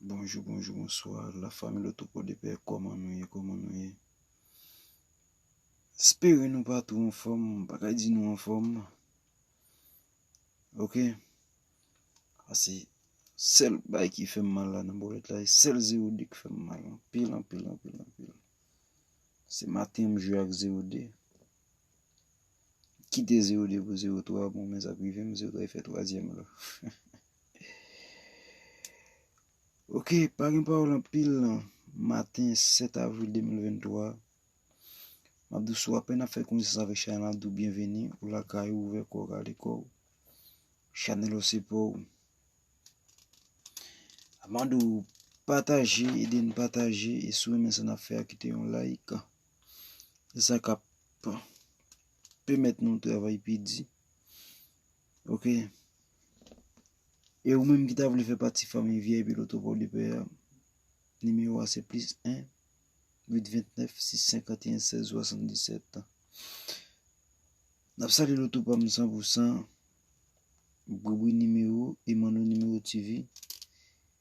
Bonjou bonjou bonswa la fami loto podepè kòman nou ye kòman nou ye espere nou pa tou anfòm m pa ka di nou anfòm ok ase sèl bay ki fèm mal la nan bòlèt la e sèl 0 2 ki fèm mal anpil anpil anpil anpil se maten m jwe ak 0 2. Kite 0 2 pou 0 3 bon men sak rive m 0 3 e fè twazyèm la ok pa gen pawòl anpil nan maten 7 avril 2023 map di w si w apèn ap fè konesans avèk chanèl la map di w byenveni ou lakay ou ouvè kò w rale kò w chanèl ou se pa w map di w pataje ede n pataje e si w renmen sa n ap fè a kite yon like. Se sa kap pèmèt nou travay pi di. Ok. E ou menm ki ta vle fè pati fanmi vip Loto Pò de Pè a, nimewo a se plis 1 829 651 16 77. Nap salye Loto pa m san pou san, Boubou nimewo, Emano nimewo TV.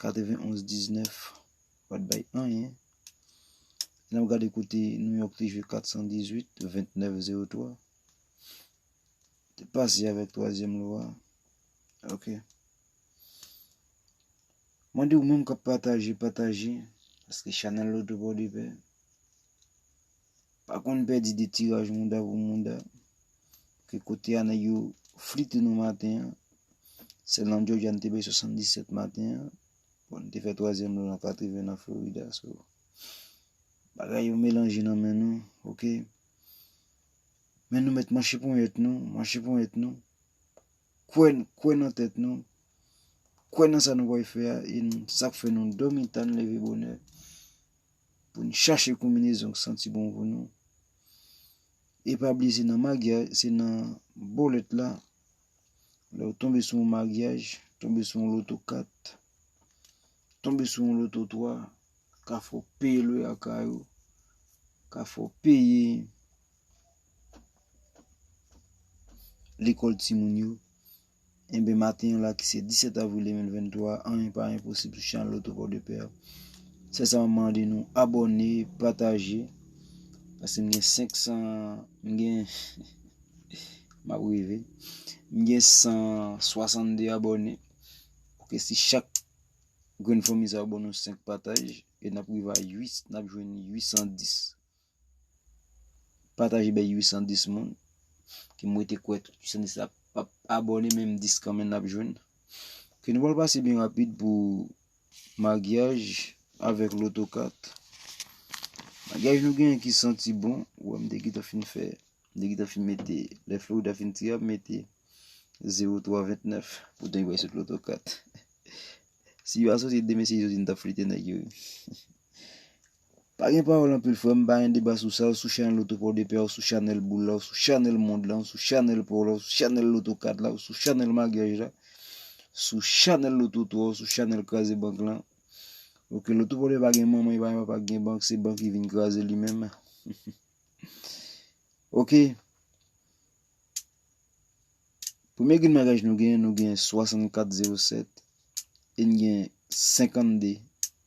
91 19 pat bay anyen lè m gade kote New York te jwe 418 29 03 te pase avèk twazyèm lwa ok mwen di ou menm kap pataje pataje paske chanèl la ou te bò de pè Pa konn pèdi de tiraj mouda pou mouda ke kote a nèg yo flite nou maten an sèl nan Jòjya n te bay 77 maten an bon n te fè twazyèm lò nan 80 nan Florida so bagay yo melanje nan men nou ok men nou mèt manche ponyèt nou manche ponyèt nou kwè kwè nan tèt nou kwè nan sa nou pral fè a e sa k fè nou dòmi ta n leve bonè pou n chache konminezon k santi bon pou nou e pa bliye se nan magyaj se nan bolèt la lè ou tonbe sou yon magyaj tonbe sou yon loto 4 tonbe sou yon loto 3 ka fè w peye lwe a kay ou ka fè w peye lekòl timoun yo Enben maten an la ki se 17 avril 2023 anyen pa enposib sou chanèl Loto Pòdepè a. Sèl sa map mande nou abòne, pataje paske m gen 500 m gen map rive m gen 162 abòne ok si chak grenn fanmi sa yo ban nou 5 pataj e nap rive a 8 nap jwenn 810. Pataje bay 810 moun. Ke mwen te kwè tout 810 la pap abone menm 10 kanmen nap jwenn. Ke nou pral pase byen rapid pou maryaj avèk loto kat. Maryaj nou gen yon ki santi bon. Ou an m degi ta fin fè. Degi ta fin mete. Lè flou ou ta fin tire ap mete. 0, 3, 29. Poutan yon bay sot loto kat. Si yon asoti demen se yon zin ta flite nèk yo. Pa gen pawòl anpil frèm pa gen deba sou sa ou sou chanèl loto paw de pè a ou sou chanèl boul la ou sou chanèl mond lan ou sou chanèl paw la ou sou chanèl loto kat la ou sou chanèl magyaj la sou chanèl loto 3 ou sou chanèl kraze bank lan ok loto paw de pè pa gen manman li pa gen papa ki gen bank se bank ki vin kraze li menm ok premye grenn magyaj nou gen nou gen 64 07 e n gen 52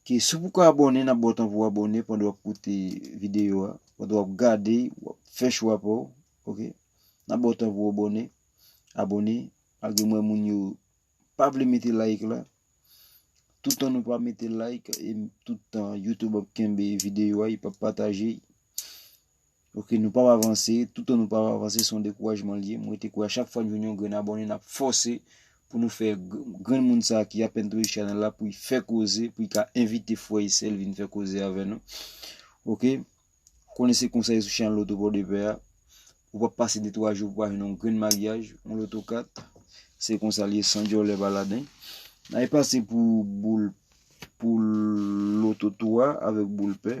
Ok si w poko abòne nap baw tan pou w abòne pandan wap koute video a pandan wap gade wap fè chwa pa w ok nap baw tan pou w abòne abòne malgre m wè moun yo pa vle mete like la toutan nou pa mete like e tout tan youtube ap kenbe video a yo pap pataje. Ok nou pap avanse, toutan nou pap avanse son dekourajman li ye, mwen rete kwè a chak fwa nou jwenn yon grenn abòne nap fòse pou nou fè grenn moun sa ki apèn touye chanèl la pou li fè koze pou li ka envite frè e sèl vin fè koze avè nou ok konnen se konsa ye sou chanèl loto pòdepè a ou pap pase de 3 jou pou pa jwenn yon grenn maryaj yon loto kat se konsa li ye san djòlè pa laden na e pase pou boul pou loto 3 avèk boul pè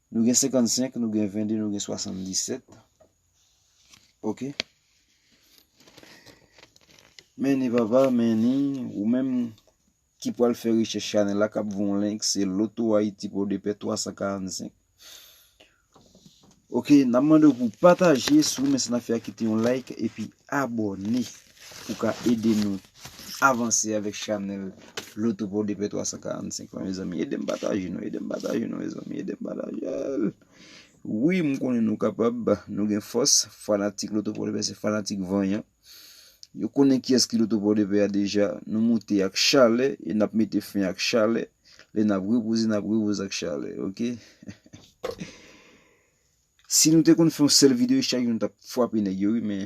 Nou gen 55, nou gen 22, nou gen 77. Ok. Meni papa, meni. Ou menm ki pwal fè richè chanè la kap voun link se loto ayiti pou de pè 345. Ok, nan mande ou pou pataje sou men se nan fè a kite yon like epi abone. ou ka ede nou avanse avèk chanèl lotopo DP 345 lan mezanmi edem pataje nou edem pataje nou mezanmi edem patajel wi m konnen nou kapab nou gen fòs fanatik lotopo DP se fanatik vanyan yo konnen ki eski lotopo DP a deja nou moute ak chale e nap mete fin ak chale le nap repouze nap repouze ak chale ok si nou te konn fon sel video chak nou tap fwape neg yo wi men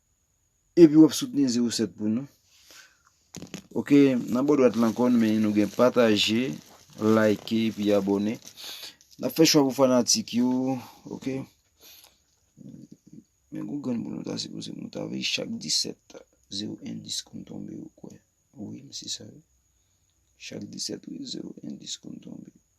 Epi wap soutni zero 7 pou nou. Ok nan bò dwat la ankò nou menen nou gen pataje, like epi abòne. Nap fè chwa pou fanatik yo ok. Men gwo grenn pou nou ta sipoze nou ta veye chak 17 zero endis konn tonbe ou kwè. Wi m se sa wi. Chak 17 wi zero endis konn tonbe.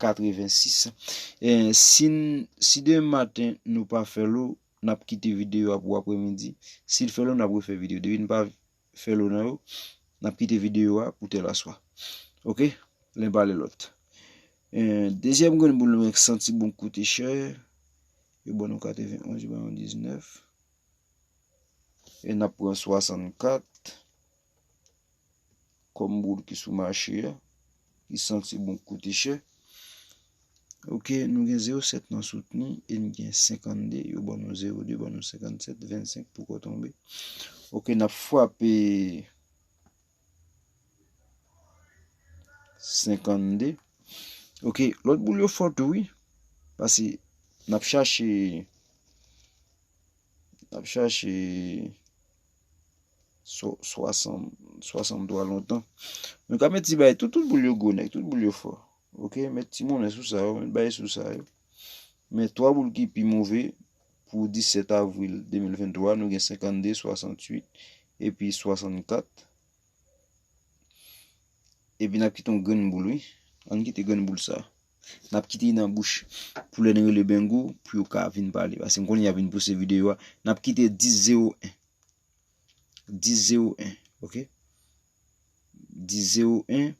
86 en sin si demen maten nou pa fè lo nap kite video a pou aprè midi sil fè lo nap refè video depi nou pa fè lo nan yo nap kite video a pou tèl aswa ok len pa ale lot en dezyèm grenn boul nou ek santi bon koute chè yo ban nou 91 yo ban nou 19 e nap pran 64. Kòm boul ki sou mache a, ki santi bon, ki koute chè. Ok, nou gen 0 7 nan soutni, e n gen 52, yo ban nou 0 2, ban nou 57, 25 pou kò tonbe. Ok, n ap fwape 52. Ok, lòt boul yo fò tou wi, pase n ap chache, n ap chache. 60 60 dola lontan Nou ka met ti bay tout tout boul yo gwo nèg tout boul yo fò ok met ti monnen sou sa yo met bay sou sa yo men 3 boul ki pi move pou 17 avril 2023 nou gen 52 68 epi 64 epi nap kite yon grenn boul wi ann kite grenn boul sa Nap kite li nan bouch pou lè nou rele Bengo pou yo ka vin pale. Paske m konnen yap vin pouse videyo a. Nap kite 10 0 1. 10 0 1 ok. 10 0 1.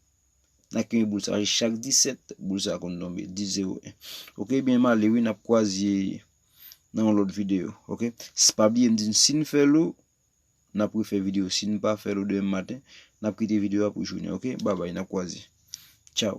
Nap kite boul sa. Chak 17 boul sa konn tonbe. 10 0 1. Ok ebyen m ale wi nap kwaze nan yon lot videyo. Ok. Si pa bliye m di nou si nou fè lou. Nap refe videyo. Si nou pa fè lou demen maten. Nap kite videyo a pou jounen. Ok. Babay nap kwaze. Chow.